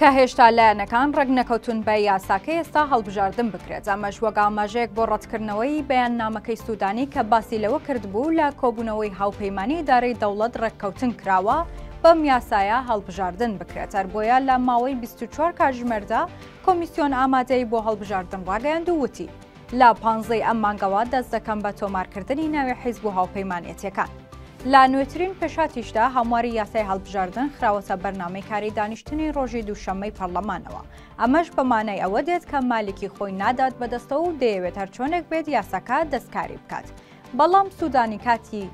کە هێشتا لایەنەکان ڕێکنەکەوتون بە یاساکەی ئێستا هەڵبژاردن بکرێت، ئەمەش وەک ئاماژەیەک بۆ ڕەتکردنەوەی بەیاننامەکەی سودانی کە باسی لەوە کردبوو لە کۆبوونەوەی هاوپەیمانی ئیدارەی دەوڵەت ڕێککەوتن کراوە بەم یاسایە هەڵبژاردن بکرێت، هەر بۆیە لە ماوەی بیست و چوار کاتژمێردا کۆمیسیۆن ئامادەیی بۆ هەڵبژاردن ڕاگەیاند و وتی، لە پانزەی ئەم مانگەوە دەست دەکەم بە تۆمارکردنی ناوی حیزب و هاوپەیمانەتیەکان. لە نوێترین پێشاتیشدا هەمواری یاسای هەڵبژاردن خراوەتە بەرنامەی کاری دانیشتنی ڕۆژی دووشەممەی پەرلەمانەوە، ئەمەش بە مانای ئەوە دێت کە مالیکی خۆی نادات بەدەستەوە و دەیەوێت هەرچۆنێک بێت یاساکە دەستکاری بکات، بەڵام سوودانی کاتی.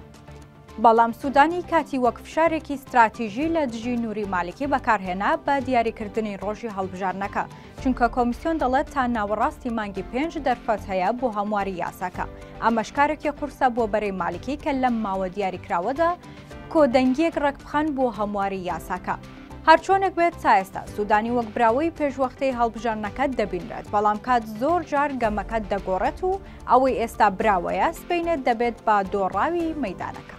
بەڵام سوودانی کاتی وەک فشارێکی ستراتیژی لە دژی نووری مالکی بەکارهێنا بە دیاریکردنی ڕۆژی هەڵبژارنەکە چونکە کۆمیسیۆن دەڵێت تا ناوەڕاستی مانگی پێنج دەرفەت هەیە بۆ هەمواری یاساکە ئەمەشکارێکی قورسە بۆ بەرەی مالکی کە لەم ماوە دیاریکراوەدا کۆدەنگیەک ڕێکبخەن بۆ هەمواری یاساکە. هەرچۆنێک بێت تا ئێستا سوودانی وەک براوەی پێشوەختەی هەڵبژاردنەکەت دەبینرێت بەڵام کات زۆر جار گەمەکەت دەگۆڕێت و ئەوەی ئێستا براوەیە سبەینێ دەبێت بە دۆڕاوی مەدانەکە.